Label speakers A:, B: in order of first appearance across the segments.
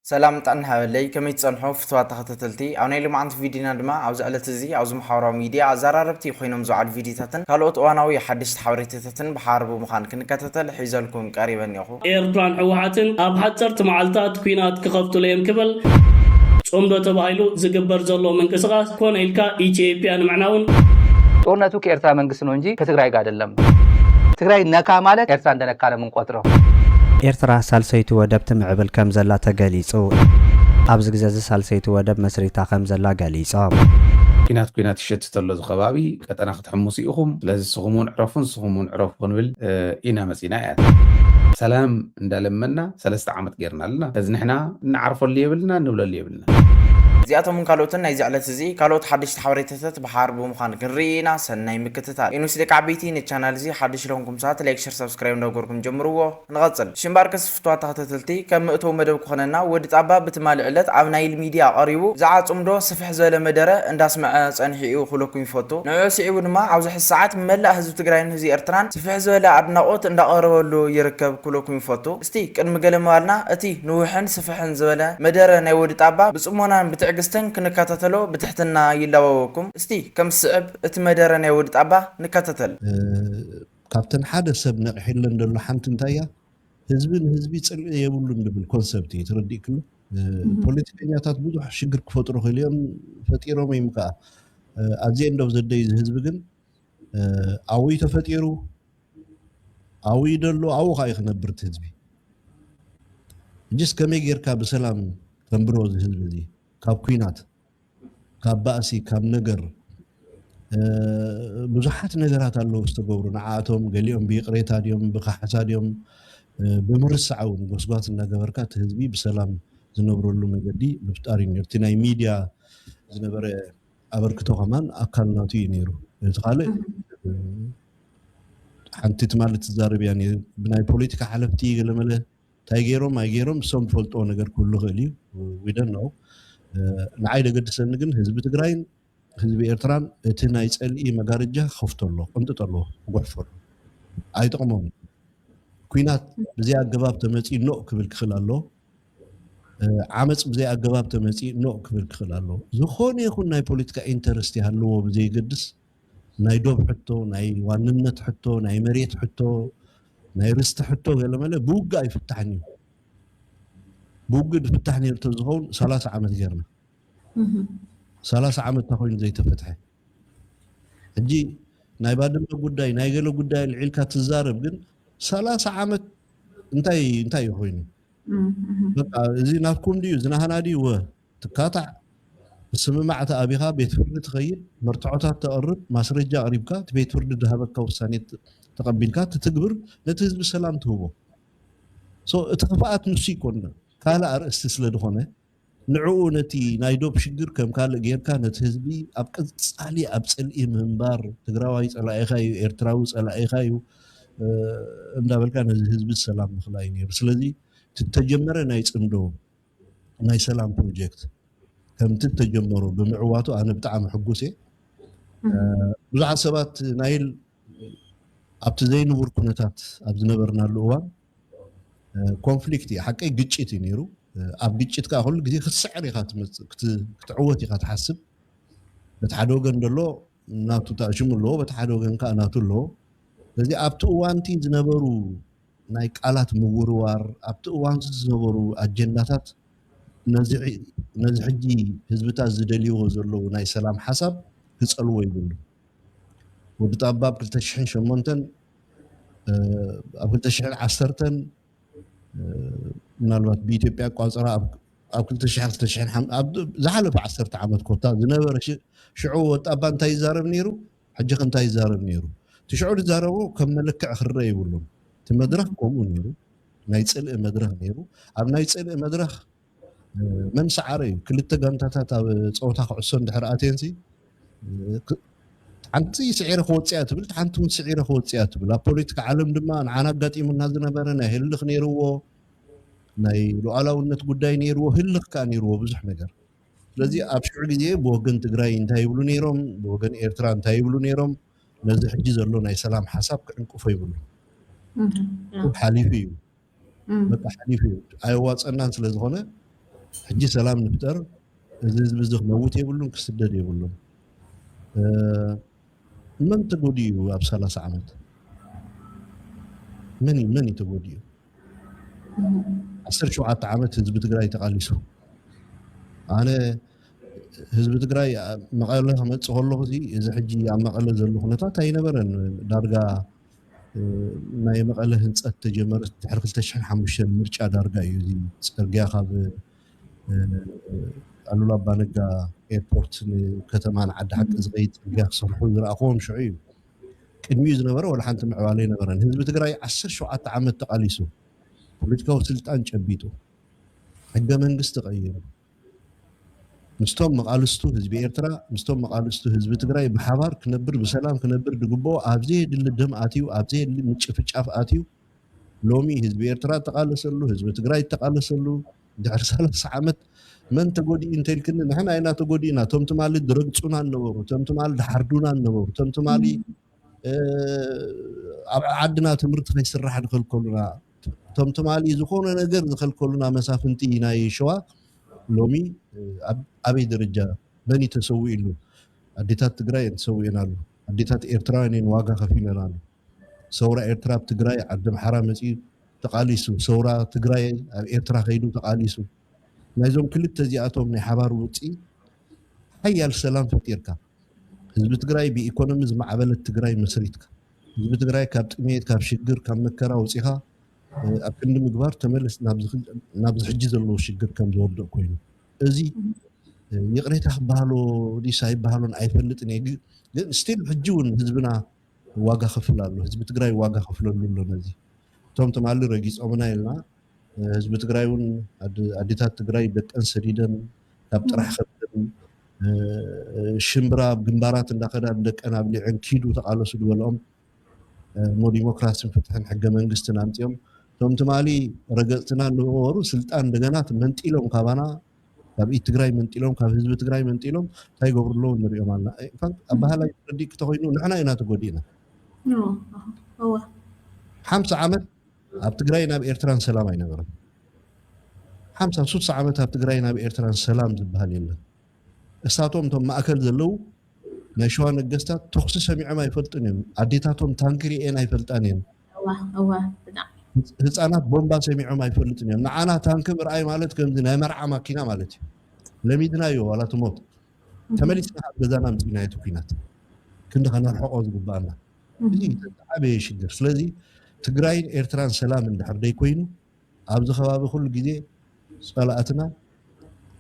A: ሰላም ጥዕና ይሃበለይ ከመይ ትጸንሑ ፍትዋት ተኸታተልቲ ኣብ ናይ ሎማዓንቲ ቪድዮና ድማ ኣብዚ ዕለት እዚ ኣብዚ መሓበራዊ ሚድያ ኣዛራረብቲ ኮይኖም ዝውዓሉ ቪድዮታትን ካልኦት እዋናዊ ሓደሽቲ ሓበሬታታትን ብሓባር ብምዃን ክንከታተል ሒዘልኩም ቀሪበ እኔኹ። ኤርትራን ሕወሓትን
B: ኣብ ሓጸርቲ መዓልታት ኲናት ክኸፍቱሉ እየም ክብል ጽምዶ ተባሂሉ ዝግበር ዘሎ ምንቅስቓስ ኮነ ኢልካ ኢትዮጵያ ንምዕናውን፣ ጦርነቱ
C: ከኤርትራ መንግስት ነው እንጂ ከትግራይ ጋር አይደለም። ትግራይ ነካ ማለት ኤርትራ እንደነካ ነው። ንቆጽሮ። ኤርትራ
D: ሳልሰይቲ ወደብ ትምዕብል ከም ዘላ ተገሊጹ። ኣብዚ ግዜ'ዚ ሳልሰይቲ ወደብ መስሪታ ከም ዘላ ገሊጾም። ኲናት
E: ኲናት ይሸትት ኣሎ እዚ ከባቢ፣ ቀጠና ክትሕምሱ ኢኹም፣ ስለዚ ንስኹም'ውን ዕረፉ ንስኹም'ውን ዕረፉ ክንብል ኢና መጺና እያ። ሰላም እንዳለመና ሰለስተ ዓመት ጌርና ኣለና፣ ስለዚ ንሕና እንዓርፈሉ የብልናን ንብለሉ የብልናን። እዚኣቶምን
A: ካልኦትን ናይዚ ዕለት እዚ ካልኦት ሓደሽቲ ሓበሬታታት ብሓባር ብምዃን ክንርኢ ኢና ሰናይ ምክትታል። NOC ደቂ ዓበይቲ ነቲ ቻናል እዚ ሓደሽቲ ለኹንኩም ሰባት ላይክ ሸር ሳብስክራይብ እንዳገበርኩም ጀምርዎ ንቐጽል። ሽምባርከስ ፍቱዋት ተኸታተልቲ ከም መእተዊ መደብ ክኾነና ወዲ ጣባ ብትማሊ ዕለት ኣብ ናይል ሚድያ ቐሪቡ ብዛዕባ ጽምዶ ስፍሕ ዝበለ መደረ እንዳስመዐ ጸኒሑ ኢዩ ክብለኩም ይፈቱ። ንዕዑ ስዒቡ ድማ ኣብዚ ሕዚ ሰዓት ብመላእ ህዝቢ ትግራይን ህዝቢ ኤርትራን ስፍሕ ዝበለ ኣድናቖት እንዳቐረበሉ ይርከብ ክብለኩም ይፈቱ። እስቲ ቅድሚ ገለ ምባልና እቲ ንውሕን ስፍሕን ዝበለ መደረ ናይ ወዲ ጣባ ብጽሞናን ብትዕግስትን ክንካታተሎ ብትሕትና ይላበወኩም። እስቲ ከም ዝስዕብ እቲ መደረ ናይ ወዲ ጣባ ንካታተል።
F: ካብተን ሓደ ሰብ ነቂሒለን ደሎ ሓንቲ እንታይ እያ ህዝቢ ንህዝቢ ጽልኢ የብሉን ድብል ኮንሰብት እዩ ተረዲእክሉ ፖለቲከኛታት ብዙሕ ሽግር ክፈጥሩ ክኢሉ እዮም ፈጢሮም እዩም ከኣ ኣት ዘ ኤንድ ኦፍ ዘ ደይ እዚ ህዝቢ ግን ኣብይ ተፈጢሩ ኣብይ ደሎ ኣብኡ ካኣዩ ክነብር እቲ ህዝቢ እጅስ ከመይ ጌርካ ብሰላም ተንብሮ እዚ ህዝቢ እዚ ካብ ኩናት ካብ ባእሲ ካብ ነገር ብዙሓት ነገራት ኣለዉ ዝተገብሩ ንዓኣቶም ገሊኦም ብይቕሬታ ድዮም ብካሕሳ ድዮም ብምርሳዕ እውን ጎስጓስ እናገበርካ እቲ ህዝቢ ብሰላም ዝነብረሉ መገዲ ምፍጣር እዩ ነቲ ናይ ሚድያ ዝነበረ ኣበርክቶ ከማን ኣካል ናቱ እዩ ነይሩ እቲ ካልእ ሓንቲ ትማሊ ትዛረብ እያ ብናይ ፖለቲካ ሓለፍቲ ገለመለ እንታይ ገይሮም ኣይገይሮም እሶም ዝፈልጥዎ ነገር ክህሉ ይኽእል እዩ ዊደን ነው ንዓይ ዘገድሰኒ ግን ህዝቢ ትግራይን ህዝቢ ኤርትራን እቲ ናይ ፀልኢ መጋረጃ ክኸፍቶ ኣሎ ቅንጥጥ ኣለዎ ክጉሕፎ ኣሎ ኣይጠቕሞም ኩናት ብዘይ ኣገባብ ተመፂ ኖእ ክብል ክኽእል ኣለዎ ዓመጽ ብዘይ ኣገባብ ተመጺእ ኖእ ክብል ክኽእል ኣለዎ። ዝኾነ ይኹን ናይ ፖለቲካ ኢንተረስት ይሃልዎ ብዘይገድስ ናይ ዶብ ሕቶ፣ ናይ ዋንነት ሕቶ፣ ናይ መሬት ሕቶ፣ ናይ ርስቲ ሕቶ ገለመለ ብውግእ ኣይፍታሕን እዩ። ብውግእ ዝፍታሕ ነይሩ ተዝኸውን ሰላሳ ዓመት ጌርና ሰላሳ ዓመት እንታ ኮይኑ ዘይተፈትሐ ሕጂ ናይ ባድመ ጉዳይ ናይ ገለ ጉዳይ ኣልዒልካ ትዛረብ ግን ሰላሳ ዓመት እንታይ እንታይ እዩ ኮይኑ በቃ እዚ ናትኩም ድዩ እዚ ናህና ድዩ ወ ትካታዕ ምስምማዕ ተኣቢኻ ቤት ፍርዲ ትኸይድ መርትዖታት ተቕርብ ማስረጃ ኣቕሪብካ እቲ ቤት ፍርዲ ዝሃበካ ውሳኔ ተቐቢልካ ትትግብር ነቲ ህዝቢ ሰላም ትህቦ እቲ ክፍኣት ንሱ ይኮን ካልእ ኣርእስቲ ስለ ዝኾነ ንዕኡ ነቲ ናይ ዶብ ሽግር ከም ካልእ ጌርካ ነቲ ህዝቢ ኣብ ቀጻሊ ኣብ ጽልኢ ምንባር ትግራዋይ ጸላኢኻ እዩ ኤርትራዊ ጸላኢኻ እዩ እንዳበልካ ነዚ ህዝቢ ሰላም ምኽላይ ነይሩ ስለዚ ትተጀመረ ናይ ጽምዶ ናይ ሰላም ፕሮጀክት ከምቲ ተጀመሮ ብምዕዋቱ ኣነ ብጣዕሚ ሕጉስ እየ ብዙሓት ሰባት ናይል ኣብቲ ዘይንቡር ኩነታት ኣብ ዝነበርናሉ እዋን ኮንፍሊክት እዩ ሓቀይ ግጭት እዩ ነይሩ ኣብ ግጭት ከዓ ኩሉ ግዜ ክትስዕር ኢኻ ትመፅእ ክትዕወት ኢኻ ትሓስብ በቲ ሓደ ወገን ደሎ ናቱ ታእሽሙ ኣለዎ በቲ ሓደ ወገን ከዓ ናቱ ኣለዎ ስለዚ ኣብቲ እዋንቲ ዝነበሩ ናይ ቃላት ምውርዋር ኣብቲ እዋን ዝነበሩ ኣጀንዳታት ነዚ ሕጂ ህዝብታት ዝደልይዎ ዘለዉ ናይ ሰላም ሓሳብ ክፀልዎ ይብሉ ወዲ ጣባብ 2008 ኣብ 2010 ምናልባት ብኢትዮጵያ ኣቋፅራ ኣብ 2000 ዝሓለፈ ዓሰርተ ዓመት ኮታ ዝነበረ ሽዑ ወጣባ እንታይ ይዛረብ ነይሩ ሕጂ ከ እንታይ ይዛረብ ነይሩ እቲ ሽዑ ዝዛረቦ ከም መለክዕ ክረአ ይብሉን እቲ መድረኽ ከምኡ ነይሩ ናይ ፅልኢ መድረኽ ነይሩ ኣብ ናይ ፅልኢ መድረኽ መን ሰዓረ እዩ ክልተ ጋንታታት ኣብ ፀወታ ክዕሶ እንድሕር ኣትየንሲ ሓንቲ ስዒረ ክወፅያ ትብል እቲ ሓንቲ እውን ስዒረ ክወፅያ ትብል ኣብ ፖለቲካ ዓለም ድማ ንዓና ኣጋጢሙና ዝነበረ ናይ ህልኽ ነይርዎ ናይ ሉዓላውነት ጉዳይ ነይርዎ ህልኽ ከዓ ነይርዎ ብዙሕ ነገር ስለዚ ኣብ ሽዑ ግዜ ብወገን ትግራይ እንታይ ይብሉ ነይሮም ብወገን ኤርትራ እንታይ ይብሉ ነይሮም ነዚ ሕጂ ዘሎ ናይ ሰላም ሓሳብ ክዕንቅፎ ይብሉ ሓሊፉ እዩ በቃ ሓሊፉ እዩ ኣየዋፀናን ስለዝኾነ ሕጂ ሰላም ንፍጠር እዚ ህዝቢ እዚ ክመውት የብሉን ክስደድ የብሉን መን ተጎዲኡ እዩ ኣብ ሰላሳ ዓመት መን እዩ መን እዩ ተጎዲኡ ዓሰርተ ሸውዓተ ዓመት ህዝቢ ትግራይ ተቓሊሱ ኣነ ህዝቢ ትግራይ መቐለ ክመፅእ ከለኹ እዚ ሕጂ ኣብ መቐለ ዘሎ ኩነታት ኣይነበረን ዳርጋ ናይ መቐለ ህንፀት ተጀመረ ድሕሪ ክልተ ሽሕን ሓሙሽተን ምርጫ ዳርጋ እዩ እዚ ፅርግያ ካብ ኣሉላ ኣባነጋ ኤርፖርት ንከተማ ንዓዲ ሓቂ ዝኸይድ ፅርግያ ክሰርሑ ዝረኣኹዎም ሽዑ እዩ ቅድሚኡ ዝነበረ ወላ ሓንቲ ምዕባለ ኣይነበረን ህዝቢ ትግራይ ዓሰርተ ሸውዓተ ዓመት ተቓሊሱ ፖለቲካዊ ስልጣን ጨቢጡ ሕገ መንግስቲ ቀይሩ ምስቶም መቓልስቱ ህዝቢ ኤርትራ ምስቶም መቓልስቱ ህዝቢ ትግራይ ብሓባር ክነብር ብሰላም ክነብር ድግበኦ ኣብ ዘየድሊ ደም ኣትዩ ኣብ ዘየድሊ ምጭፍጫፍ ኣትዩ ሎሚ ህዝቢ ኤርትራ እተቓለሰሉ ህዝቢ ትግራይ እተቓለሰሉ ድሕሪ ሰላሳ ዓመት መን ተጎዲኡ እንተልክኒ ንሕና ኢና ተጎዲእና እቶም ትማሊ ዝረግፁና ነበሩ እቶም ትማሊ ዝሓርዱና ነበሩ እቶም ትማሊ ኣብ ዓድና ትምህርቲ ከይስራሕ ዝከልከሉና እቶም ትማሊ ዝኾነ ነገር ዝኸልከሉና መሳፍንቲ ናይ ሸዋ ሎሚ ኣብ ኣበይ ደረጃ መን እዩ ተሰዊኡሉ? ኣዴታት ትግራይ እየን ተሰዊኤናሉ። ኣዴታት ኤርትራውያን እየን ዋጋ ከፊለናሉ። ሰውራ ኤርትራ ኣብ ትግራይ ዓዲ ኣምሓራ መፂኡ ተቓሊሱ፣ ሰውራ ትግራይ ኣብ ኤርትራ ከይዱ ተቓሊሱ። ናይዞም ክልተ እዚኣቶም ናይ ሓባር ውፅኢት ሓያል ሰላም ፈጢርካ ህዝቢ ትግራይ ብኢኮኖሚ ዝማዕበለት ትግራይ መስሪትካ ህዝቢ ትግራይ ካብ ጥሜት ካብ ሽግር ካብ መከራ ወፂኻ ኣብ ክንዲ ምግባር ተመለስ ናብዚ ሕጂ ዘለዎ ሽግር ከም ዝወድቕ ኮይኑ እዚ ይቕሬታ ክበሃሎ ዲስ ኣይበሃሎን ኣይፈልጥን እየ ግን ስቲል ሕጂ እውን ህዝብና ዋጋ ክፍል ኣሎ ህዝቢ ትግራይ ዋጋ ክፍለሉ ኣሎ ነዚ እቶም ትማሊ ረጊፆምና ኢልና ህዝቢ ትግራይ እውን ኣዴታት ትግራይ ደቀን ሰዲደን ካብ ጥራሕ ከብደን ሽምብራ ኣብ ግንባራት እንዳኸዳ ንደቀን ኣብሊዐን ኪዱ ተቓለሱ ዝበልኦም እሞ ዲሞክራሲን ፍትሕን ሕገ መንግስትን ኣምፅኦም እቶም ትማሊ ረገፅትና ንበሩ ስልጣን እንደገና መንጢሎም ካባና ካብ ኢድ ትግራይ መንጢሎም ካብ ህዝቢ ትግራይ መንጢሎም እንታይ ይገብሩ ኣለዉ ንሪኦም ኣለና ኣባህላይ ረዲእ ክተኮይኑ ንሕና ኢና ተጎዲእና ሓምሳ ዓመት ኣብ ትግራይን ኣብ ኤርትራን ሰላም ኣይነበረን። ሓምሳ ሱሳ ዓመት ኣብ ትግራይን ኣብ ኤርትራን ሰላም ዝበሃል የለን። እሳቶም እቶም ማእከል ዘለዉ ናይ ሸዋ ነገስታት ተኹሲ ሰሚዖም ኣይፈልጡን እዮም። ኣዴታቶም ታንኪ ርእየን ኣይፈልጣን እየን። ህፃናት ቦምባ ሰሚዖም ኣይፈልጡን እዮም። ንዓና ታንኪ ምርኣይ ማለት ከምዚ ናይ መርዓ ማኪና ማለት እዩ። ለሚድናዮ ዋላ ትሞት ተመሊስና ኣብ ገዛና ምፅኢናዮ እቲ ኩናት ክንዲ ከነርሕቆ ዝግባኣና እዚ እዩ ዝዓበየ ሽግር ስለዚ ትግራይን ኤርትራን ሰላም እንድሕር ደይኮይኑ ኣብዚ ከባቢ ኩሉ ግዜ ጸላኣትና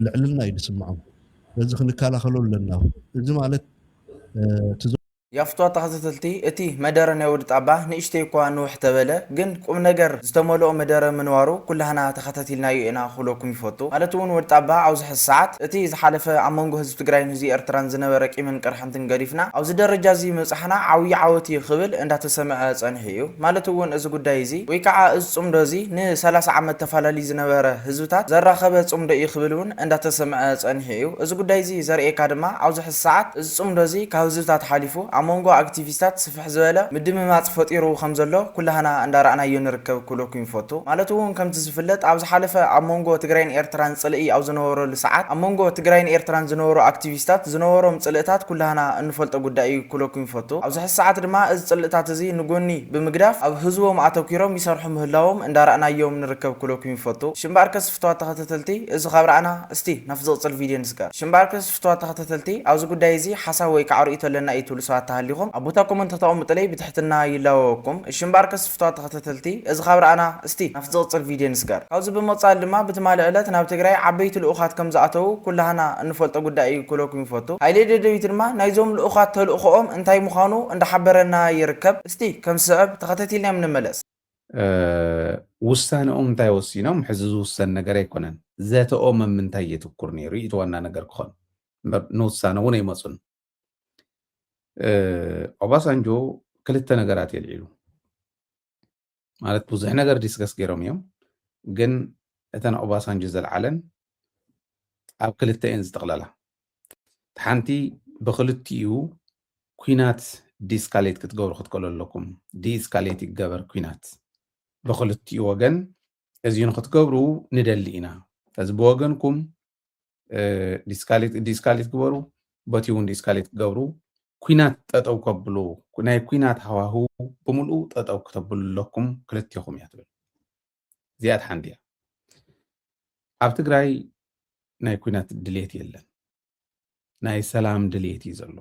F: ልዕልና እዩ ድስምዖም ስለዚ ክንካላኸሎ ኣለና እዚ ማለት እቲ
A: ያፍቷ ተኸታተልቲ እቲ መደረ ናይ ወዲ ጣባ ንእሽተይ እኳ ንውሕ ተበለ ግን ቁምነገር ዝተመልኦ መደረ ምንባሩ ኩላህና ተኸታቲልናዮ ኢና ክብለኩም ይፈቱ ማለት እውን ወዲ ጣባ ኣብዚ ሐዚ ሰዓት እቲ ዝሓለፈ ኣብ መንጎ ህዝቢ ትግራይን ህዝቢ ኤርትራን ዝነበረ ቂምን ቅርሕን ሓንትን ገዲፍና ኣብዚ ደረጃ እዚ ምብጻሕና ዓብዩ ዓወት እዩ ክብል እንዳተሰምዐ ጸኒሑ እዩ። ማለት እውን እዚ ጉዳይ እዚ ወይ ከዓ እዚ ጽምዶ እዚ ን ሰላሳ ዓመት ተፋላልዩ ዝነበረ ህዝብታት ዘራኸበ ጽምዶ እዩ ክብል እውን እንዳተሰምዐ ጸኒሑ እዩ። እዚ ጉዳይ እዚ ዘርእየካ ድማ ኣብዚ ሕዚ ሰዓት እዚ ጽምዶ እዚ ካብ ህዝብታት ሓሊፉ ኣብ መንጎ ኣክቲቪስታት፣ ስፍሕ ዝበለ ምድምማፅ ፈጢሩ ከምዘሎ ኩላህና እንዳራእናዮ ንርከብ ክብለኩም ይፈቱ። ማለት እውን ከምቲ ዝፍለጥ ኣብ ዝሓለፈ ኣብ ሞንጎ ትግራይን ኤርትራን ፅልኢ ኣብ ዝነበረሉ ሰዓት ኣብ ሞንጎ ትግራይን ኤርትራን ዝነበሩ ኣክቲቪስታት ዝነበሮም ፅልእታት ኩላህና እንፈልጦ ጉዳይ እዩ ክብለኩም ይፈቱ። ኣብዚ ሕዚ ሰዓት ድማ እዚ ፅልእታት እዚ ንጎኒ ብምግዳፍ ኣብ ህዝቦም ኣተኲሮም ይሰርሑ ምህላዎም እንዳራእናዮም ንርከብ ክብለኩም ይፈቱ። እሺ እምበኣርከስ ፍትዋት ተኸተተልቲ እዚ ካብ ራእና እስቲ ናብቲ ዝቕፅል ቪድዮ ንስገር። እሺ እምበኣርከስ። ፍቱዋት ተኸታተልቲ ኣብዚ ጉዳይ እዚ ሓሳብ ወይ ካዓ ርእይቶ ኣለና ኢዩ ትብሉ ሰባት ተሃሊኹም ኣብ ቦታ ኮመንት ከተቐሙጥለይ ብትሕትና ይላወወኩም እሺ እምበኣርከስ ፍቱዋት ተኸታተልቲ እዚ ካብ ረኣና እስቲ ናብቲ ዝቕጽል ቪድዮ ንስገር ካብዚ ብምቕጻል ድማ ብትማሊ ዕለት ናብ ትግራይ ዓበይቲ ልኡኻት ከምዝኣተዉ ኩላህና እንፈልጦ ጉዳይ ኢዩ ክብለኩም ይፈቱ ሃይሌ ደደቢት ድማ ናይዞም ልኡኻት ተልእኾኦም እንታይ ምዃኑ እንዳሓበረና ይርከብ እስቲ ከምዝስዕብ ተኸታቲልናዮም ንመለስ። ውሳነኦም
E: እንታይ ወሲኖም ሕዚ ዝውሰን ነገር ኣይኮነን ዘተኦም ኣብ ምንታይ የትኩር ነይሩ እቲ ዋና ነገር ክኾን እምበር ንውሳነ እውን ኣይመፁን ኦባሳንጆ ክልተ ነገራት የልዒሉ ማለት ብዙሕ ነገር ዲስከስ ገይሮም እዮም ግን እተን ኦባሳንጆ ዘልዓለን ኣብ ክልተ እየን ዝጥቕለላ ሓንቲ ብክልቲኡ ኩናት ዲስካሌት ክትገብሩ ክትከሉ ኣለኩም ዲስካሌት ይገበር ኩናት ብክልቲኡ ወገን እዚ ንክትገብሩ ንደሊ ኢና እዚ ብወገንኩም ዲስካሌት ግበሩ በቲ እውን ዲስካሌት ክገብሩ ኩናት ጠጠው ከብሉ ናይ ኩናት ሃዋህው ብምልኡ ጠጠው ክተብሉ ኣለኩም ክልቲኹም እያ ትብል እዚኣ ሓንቲ እያ ኣብ ትግራይ ናይ ኩናት ድሌት የለን ናይ ሰላም ድሌት እዩ ዘሎ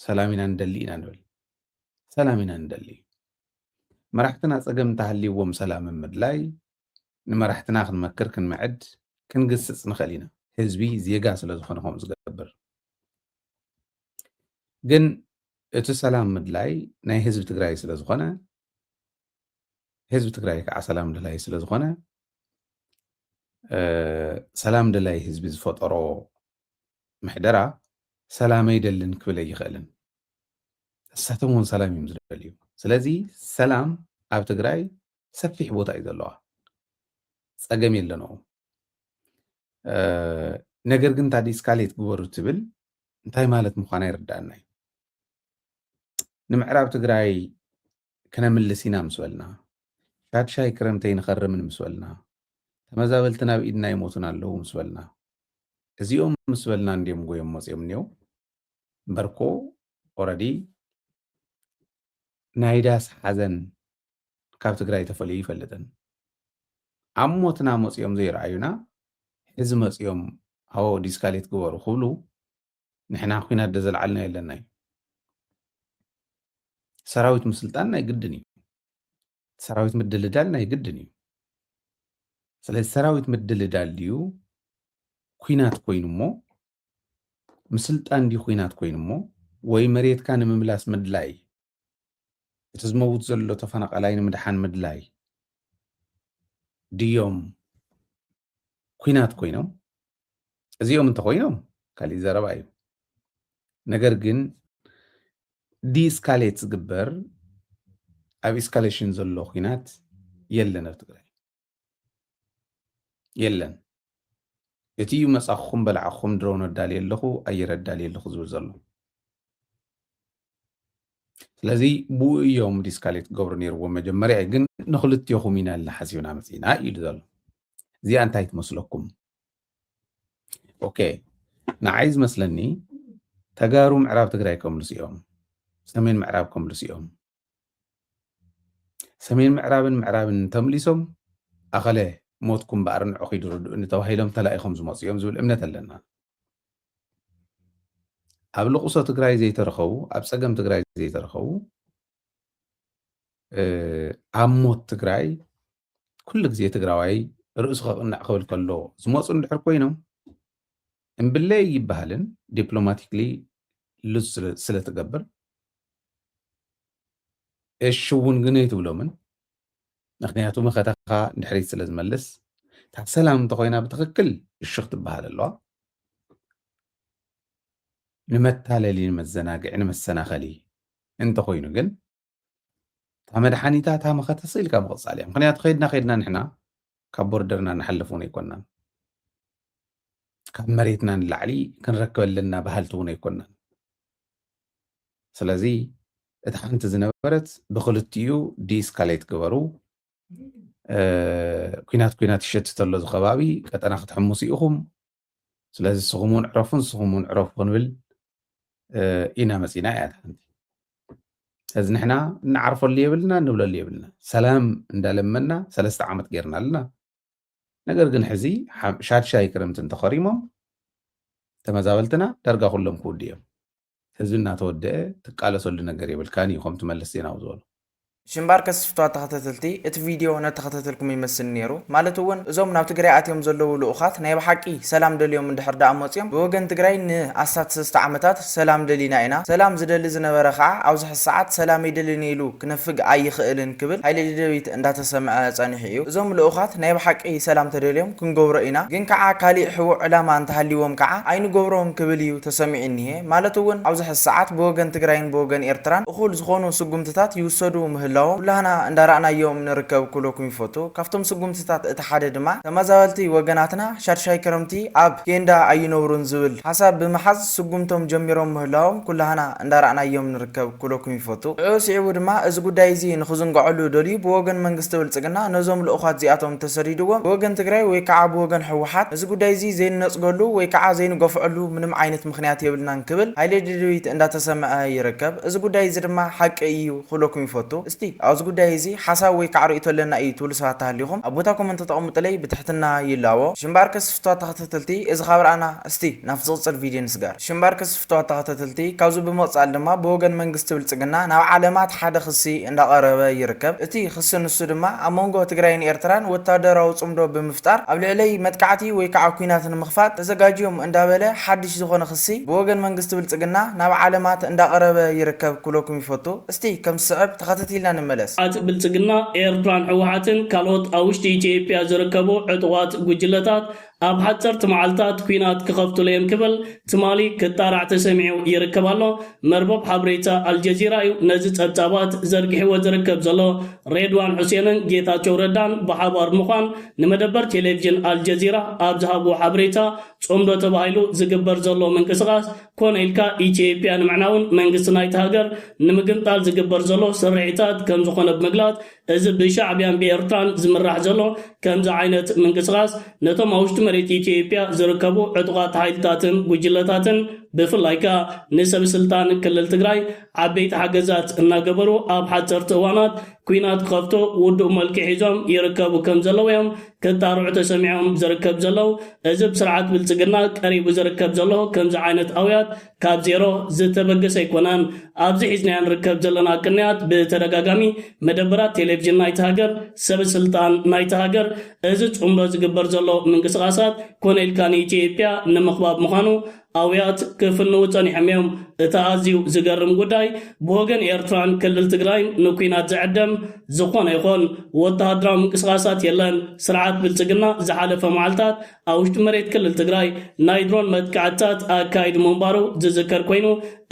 E: ሰላም ኢና ንደሊ ኢና ንብል ሰላም ኢና ንደሊ መራሕትና ፀገም እንተሃልይዎም ሰላም ምድላይ ንመራሕትና ክንመክር ክንምዕድ ክንግስፅ ንኽእል ኢና ህዝቢ ዜጋ ስለ ዝኾነ ከምኡ ዝገብር ግን እቲ ሰላም ምድላይ ናይ ህዝቢ ትግራይ ስለ ዝኾነ ህዝቢ ትግራይ ከዓ ሰላም ደላይ ስለ ዝኾነ ሰላም ደላይ ህዝቢ ዝፈጠሮ ምሕደራ ሰላም ኣይደልን ክብል ኣይኽእልን። ንሳቶም እውን ሰላም እዮም ዝደልዩ። ስለዚ ሰላም ኣብ ትግራይ ሰፊሕ ቦታ እዩ ዘለዋ፣ ፀገም የለንኡ። ነገር ግን እንታ ዲስካሌት ግበሩ ትብል እንታይ ማለት ምዃና ይርዳእና እዩ። ንምዕራብ ትግራይ ክነምልስ ኢና ምስ በልና፣ ሻድሻይ ክረምተይ ንኸርምን ምስ በልና፣ ተመዛበልቲ ናብ ኢድና ይሞቱን ኣለዉ ምስ በልና፣ እዚኦም ምስ በልና እንድዮም ጎዮም መጽዮም እኔዉ እምበር እኮ ኦረዲ ናይ ዳስ ሓዘን ካብ ትግራይ ተፈልዩ ይፈልጥን ኣብ ሞትና መጽዮም ዘይረኣዩና ሕዚ መጽዮም ኣዎ ዲስካሌት ግበሩ ክብሉ ንሕና ኩናት ደዘልዓልና የለና እዩ ሰራዊት ምስልጣን ናይ ግድን እዩ ሰራዊት ምድልዳል ናይ ግድን እዩ ስለዚ ሰራዊት ምድልዳል ድዩ ኩናት ኮይኑ እሞ ምስልጣን ድዩ ኩናት ኮይኑ እሞ ወይ መሬትካ ንምምላስ ምድላይ እቲ ዝመውት ዘሎ ተፈናቃላይ ንምድሓን ምድላይ ድዮም ኩናት ኮይኖም እዚኦም እንተኮይኖም ካሊእ ዘረባ እዩ ነገር ግን ዲስካሌት ዝግበር ኣብ ኢስካሌሽን ዘሎ ኩናት የለን ኣብ ትግራይ የለን እቲ እዩ መፃኹም በላዕኹም ድሮን ኣዳልየ ኣለኹ ኣየር ኣዳልየ ኣለኹ ዝብል ዘሎ ስለዚ ብኡ እዮም ዲስካሌት ክገብሩ ነይርዎም መጀመርያ እዩ ግን ንክልትዮኹም ኢና ልና ሓሲብና መፅና ኢሉ ዘሎ እዚኣ እንታይ ትመስለኩም ኦኬ ንዓይ ዝመስለኒ ተጋሩ ምዕራብ ትግራይ ከምልሱ እዮም ሰሜን ምዕራብ ከምልሱ እዮም ሰሜን ምዕራብን ምዕራብን ተምሊሶም ኣኸለ ሞትኩም በኣር ንዕኺ ድርድኡኒ ተባሂሎም ተላኢኾም ዝመፁ እዮም ዝብል እምነት ኣለና ኣብ ልቕሶ ትግራይ ዘይተረኸቡ ኣብ ፀገም ትግራይ ዘይተረኸቡ ኣብ ሞት ትግራይ ኩሉ ግዜ ትግራዋይ ርእሱ ከቕንዕ ክብል ከሎ ዝመፁ እንድሕር ኮይኖም እምብለይ ይበሃልን ዲፕሎማቲክሊ ልዝ ስለትገብር እሽውን ግነ ትብሎምን ምክንያቱ መኸተኻ ንድሕሪት ስለ ዝመልስ እታ ሰላም እንተኾይና ብትኽክል እሽኽ ትበሃል ኣለዋ ንመታለሊ ንመዘናግዒ ንመሰናኸሊ እንተኾይኑ ግን እታ መድሓኒታ እታ መኸተ ስኢልካ ምቕፃል እያ ምክንያቱ ከይድና ከይድና ንሕና ካብ ቦርደርና ንሓልፍ እውን ኣይኮናን ካብ መሬትና ንላዕሊ ክንረክብ ኣለና በሃልቲ እውን ኣይኮናን ስለዚ እቲ ሓንቲ ዝነበረት ብክልቲኡ ዲስካሌት ግበሩ ኩናት ኩናት ይሸትተሎ ዝከባቢ ቀጠና ክትሕምሱ ኢኹም ስለዚ ንስኹም እውን ዕረፉ ንስኹም እውን ዕረፉ ክንብል ኢና መፂና እያ ሓንቲ ስለዚ ንሕና እንዓርፈሉ የብልና እንብለሉ የብልና ሰላም እንዳለመና ሰለስተ ዓመት ጌርና ኣለና ነገር ግን ሕዚ ሻድሻይ ክረምቲ እንተኸሪሞም ተመዛበልትና ዳርጋ ኩሎም ክውድ እዮም ህዝቢ እናተወደኤ ትቃለሰሉ ነገር የብልካን ኢዩ ከምቲ መለስ ዜናዊ ዝበሎ። ሽምባርከስ
A: ፍትዋት ተኸተተልቲ እቲ ቪድዮ ነተኸተተልኩም ይመስል ኔሩ ማለት ውን እዞም ናብ ትግራይ ኣትዮም ዘለዉ ልኡኻት ናይ ብሓቂ ሰላም ደልዮም እንድሕር ድኣ መጽዮም ብወገን ትግራይ ን ኣስታት ሰለስተ ዓመታት ሰላም ደሊና ኢና ሰላም ዝደሊ ዝነበረ ኸኣ ኣብዚ ሕዚ ሰዓት ሰላም ኣይደልን ኢሉ ክነፍግ ኣይኽእልን ክብል ሃይለ ደደቢት እንዳተሰምዐ ጸኒሑ እዩ እዞም ልኡኻት ናይ ብሓቂ ሰላም ተደልዮም ክንገብሮ ኢና ግን ካዓ ካሊእ ሕቡእ ዕላማ እንተሃሊዎም ካዓ ኣይንገብሮን ክብል እዩ ተሰሚዒኒሄ ማለት እውን ኣብዚ ሐዚ ሰዓት ብወገን ትግራይን ብወገን ኤርትራን እኹል ዝኾኑ ስጉምትታት ይውሰዱ ምህላዎም ኩላህና እንዳራእናዮም ንርከብ ክብለኩም ይፈቱ ካብቶም ስጉምትታት እቲ ሓደ ድማ ተማዛበልቲ ወገናትና ሻድሻይ ክረምቲ ኣብ ኬንዳ ኣይነብሩን ዝብል ሐሳብ ብምሓዝ ስጉምቶም ጀሚሮም ምህላዎም ኩላህና እንዳራእናዮም ንርከብ ኩለኩም ይፈቱ። ሽዑ ሲዒቡ ድማ እዚ ጉዳይ እዚ ንክዝንገዐሉ ደልዩ ብወገን መንግስቲ ብልጽግና ነዞም ልኡኻት እዚኣቶም ተሰዲድዎም ብወገን ትግራይ ወይ ካዓ ብወገን ህወሓት እዚ ጉዳይ እዚ ዘይንነጽገሉ ወይ ካዓ ዘይንገፍዐሉ ምንም ዓይነት ምኽንያት የብልናን ክብል ሃይለድልድቢት እንዳተሰመዐ ይርከብ። እዚ ጉዳይ እዚ ድማ ሓቂ እዩ ክብለኩም ይፈቱ። እስቲ ኣብዚ ጉዳይ እዚ ሓሳብ ወይ ካዓ ርእይቶ ኣለና እዩ ትብሉ ሰባት ተሃሊኹም ኣብ ቦታ ኮመንት ተቐምጡለይ ብትሕትና ይላቦ። ሽምባር ከስፍቷ ተኸታተልቲ እዚ ካብ ራእና። እስቲ ናብቲ ዝቕጽል ቪድዮ ንስገር። ሽምባርከስ ፍቱዋት ተኸታተልቲ፣ ካብዚ ብምቕጻል ድማ ብወገን መንግስቲ ብልጽግና ናብ ዓለማት ሓደ ክሲ እንዳቐረበ ይርከብ። እቲ ክሲ ንሱ ድማ ኣብ መንጎ ትግራይን ኤርትራን ወታደራዊ ጽምዶ ብምፍጣር ኣብ ልዕለይ መጥቃዕቲ ወይ ከዓ ኩናት ንምኽፋት ተዘጋጅዮም እንዳበለ ሓድሽ ዝኾነ ክሲ ብወገን መንግስቲ ብልጽግና ናብ ዓለማት እንዳቐረበ ይርከብ ክብለኩም ይፈቱ። እስቲ ከም ዝስዕብ ተኸታቲልና ንመለስ። ዓጽ ብልጽግና፣
B: ኤርትራን ህወሓትን ካልኦት ኣብ ውሽጢ ኢትዮጵያ ዝርከቡ ዕጡቓት ጉጅለታት ኣብ ሓጸርቲ መዓልታት ኲናት ክኸፍቱሉ'ዮም ክብል ትማሊ ክጣራዕ ተሰሚዑ ይርከብ ኣሎ። መርበብ ሓበሬታ ኣልጀዚራ'ዩ ነዚ ጸብጻባት ዘርጊሕዎ ዝርከብ ዘሎ። ሬድዋን ሑሴንን ጌታቸው ረዳን ብሓባር ብምዃን ንመደበር ቴሌቪዥን ኣልጀዚራ ኣብ ዝሃብዎ ሓበሬታ ጽምዶ ተባሂሉ ዝግበር ዘሎ ምንቅስቓስ ኮነ ኢልካ ኢትዮጵያ ንምዕናውን መንግስቲ ናይታ ሃገር ንምግምጣል ዝግበር ዘሎ ስርሒታት ከምዝኾነ ብምግላጽ እዚ ብሻዕብያን ብኤርትራን ዝምራሕ ዘሎ ከምዚ ዓይነት ምንቅስቓስ ነቶም ኣብ ውሽጢ መሬት ኢትዮጵያ ዝርከቡ ዕጡቓት ሓይልታትን ጉጅለታትን ብፍላይ ከኣ ንሰብ ስልጣን ክልል ትግራይ ዓበይቲ ሓገዛት እናገበሩ ኣብ ሓጸርቲ እዋናት ኲናት ክኸፍቱ ውዱእ መልክዕ ሒዞም ይርከቡ ከም ዘለዉ እዮም ክጣርዑ ተሰሚዖም ዝርከብ ዘለዉ። እዚ ብስርዓት ብልጽግና ቀሪቡ ዝርከብ ዘሎ ከምዚ ዓይነት ኣውያት ካብ ዜሮ ዝተበገሰ ኣይኮነን። ኣብዚ ሒዝናዮ ንርከብ ዘለና ቅንያት ብተደጋጋሚ መደበራት ቴሌቭዥን ናይታ ሃገር፣ ሰበ ስልጣን ናይታ ሃገር፣ እዚ ጽምዶ ዝግበር ዘሎ ምንቅስቓሳት ኮነ ኢልካ ንኢትዮጵያ ንምኽባብ ምዃኑ ኣውያት ክፍንዉ ጸኒሖም እዮም። እቲ ኣዝዩ ዝገርም ጉዳይ ብወገን ኤርትራን ክልል ትግራይን ንኲናት ዝዕደም ዝኾነ ይኹን ወተሃደራዊ ምንቅስቓሳት የለን። ስርዓት ብልጽግና ዝሓለፈ መዓልታት ኣብ ውሽጢ መሬት ክልል ትግራይ ናይ ድሮን መጥቃዕትታት ኣካይዱ ምንባሩ ዝዝከር ኮይኑ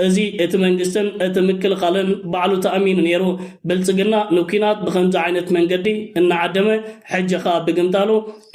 B: እዚ እቲ መንግስትን እቲ ምክልኻልን ባዕሉ ተኣሚኑ ነይሩ። ብልፅግና ንኲናት ብኸምዚ ዓይነት መንገዲ እናዓደመ ሕጂ ኸኣ ብግምጣሉ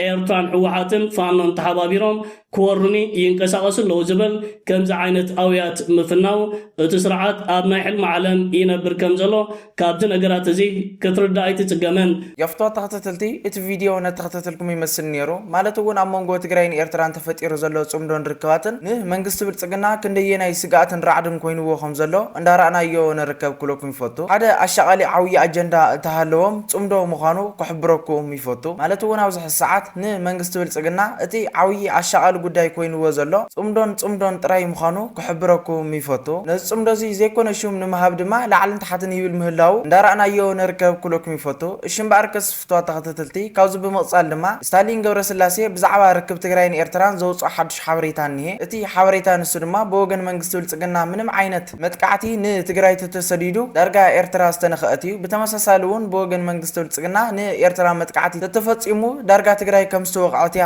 B: ኤርትራን ህወሓትን ፋኖን ተሓባቢሮም ክወሩኒ ይንቀሳቐሱ ኣለዉ ዝብል ከምዚ ዓይነት ኣውያት ምፍናዉ እቲ ስርዓት ኣብ ናይ ሕልሚ ዓለም ይነብር ከምዘሎ ካብቲ ነገራት እዚ ክትርዳእ ኣይትጽገምን። ዮፍቶ ተክትትልቲ
A: እቲ ቪድዮ ነተክተትልኩም ይመስል ኔሩ ማለት እውን ኣብ መንጎ ትግራይን ኤርትራን ተፈጢሩ ዘሎ ጽምዶን ርክባትን ን መንግስቲ ብልጽግና ክንደየናይ ስግኣትን ራዕድን ኮይንዎ ከም ዘሎ እንዳ ራእናዮ ንርከብ ክብለኩም ይፈቱ ሓደ ኣሻቃሊ ዓውዪ ኣጀንዳ እተ ሃለዎም ጽምዶ ምዃኑ ክሕብረኩም ይፈቱ ማለት እውን ኣብዚ ሕዚ ሰዓት ን መንግስቲ ብልጽግና እቲ ዓውዪ ኣሻቃሊ ጉዳይ ኮይንዎ ዘሎ ጽምዶን ጽምዶን ጥራይ ምዃኑ ክሕብረኩም ይፈቱ። ነዚ ጽምዶ እዚ ዘይኮነ ሹም ንምሃብ ድማ ላዕልን ታሕትን ይብል ምህላዉ እንዳራእናዮ ንርከብ ክብለኩም ይፈቱ። እሺ እምበኣርከስ ፍቱዋት ተኸተተልቲ ካብዚ ብምቕጻል ድማ ስታሊን ገብረስላሴ ብዛዕባ ርክብ ትግራይን ኤርትራን ዘውጽኦ ሓዱሽ ሓበሬታ እኒሄ። እቲ ሓበሬታ ንሱ ድማ ብወገን መንግስቲ ብልጽግና ምንም ዓይነት መጥቃዕቲ ን ትግራይ ተተሰዲዱ ዳርጋ ኤርትራ ዝተነኸኣት እዩ። ብተመሳሳሊ እውን ብወገን መንግስቲ ብልጽግና ን ኤርትራ መጥቃዕቲ ተተፈጺሙ ዳርጋ ትግራይ ከምዝተወቕዐት እያ።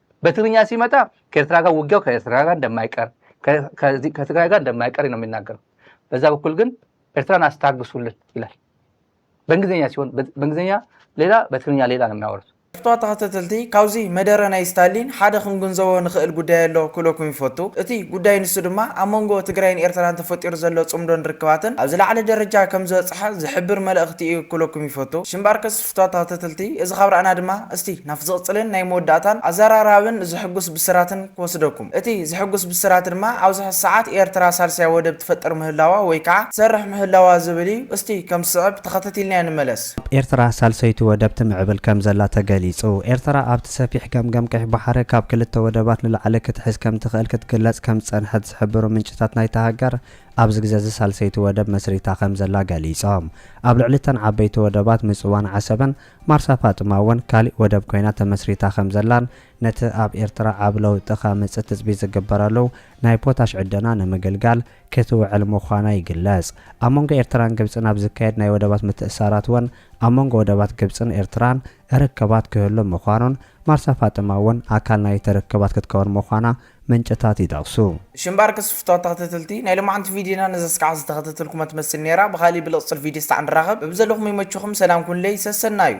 C: በትግርኛ ሲመጣ ከኤርትራ ጋር ውጊያው ከኤርትራ ጋር እንደማይቀር ከትግራይ ጋር እንደማይቀር ነው የሚናገረው። በዛ በኩል ግን ኤርትራን አስታግሱልን ይላል። በእንግሊዝኛ ሲሆን በእንግሊዝኛ ሌላ፣ በትግርኛ ሌላ ነው የሚያወሩት። ክፍቷ ተኸተተልቲ
A: ካብዚ መደረ ናይ ስታሊን ሓደ ክንግንዘቦ ንኽእል ጉዳይ ኣሎ ክብለኩም ይፈቱ እቲ ጉዳይ ንሱ ድማ ኣብ መንጎ ትግራይን ኤርትራን ተፈጢሩ ዘሎ ጽምዶን ርክባትን ኣብ ዝለዓለ ደረጃ ከም ዝበጽሐ ዝሕብር መልእኽቲ እዩ ክብለኩም ይፈቱ ሽምባርከስ ተታተትልቲ እዚ ካብ ራእና ድማ እስቲ ናብ ዝቕጽልን ናይ መወዳእታን ኣዘራራብን ዘሕጉስ ብስራትን ክወስደኩም። እቲ ዘሕጉስ ብስራት ድማ ኣብዚ ሕዚ ሰዓት ኤርትራ ሳልሳይ ወደብ ትፈጥር ምህላዋ ወይ ከኣ ትሰርሕ ምህላዋ ዝብል እዩ። እስቲ ከም ዝስዕብ ተኸተቲልና ንመለስ። ኣብ ኤርትራ ሳልሰይቲ
D: ወደብ ትምዕብል ከም ዘላ ተገሊጹ። ኤርትራ ኣብቲ ሰፊሕ ገምገም ቀይሕ ባሕሪ ካብ ክልተ ወደባት ንላዕሊ ክትሕዝ ከም ትኽእል ክትግለጽ ከም ዝጸንሐት ዝሕብሩ ምንጭታት ናይታ ሃገር፣ ኣብዚ ግዘ'ዚ ሳልሰይቲ ወደብ መስሪታ ከምዘላ ገሊፆም። ኣብ ልዕሊ እተን ዓበይቲ ወደባት ምፅዋን ዓሰብን ማርሳ ፋጥማ እውን ካሊእ ወደብ ኮይና ተመስሪታ ከምዘላን ነቲ ኣብ ኤርትራ ዓቢ ለውጢ ከምፅእ ትፅቢት ዝግበረሉ ናይ ፖታሽ ዕደና ንምግልጋል ክትውዕል ምዃና ይግለፅ። ኣብ መንጎ ኤርትራን ግብፅን ኣብ ዝካየድ ናይ ወደባት ምትእስሳራት እውን ኣብ መንጎ ወደባት ግብፅን ኤርትራን ርክባት ክህሉ ምዃኑን ማርሳ ፋጥማ እውን ኣካል ናይቲ ርክባት ክትከውን ምዃና ምንጭታት ይጠቕሱ። ሽምባር ክስፍቶ
A: ተክትትልቲ ናይ ሎማዓንቲ ቪድዮና ነዛ ስካዕ ዝተከተተልኩማ ትመስል ነይራ ብካሊእ ብልቅጽል ቪድዮ ስታዕ ንራከብ በብዘለኩም ይመቹኩም ሰላም ኩኑለይ ሰሰናዩ።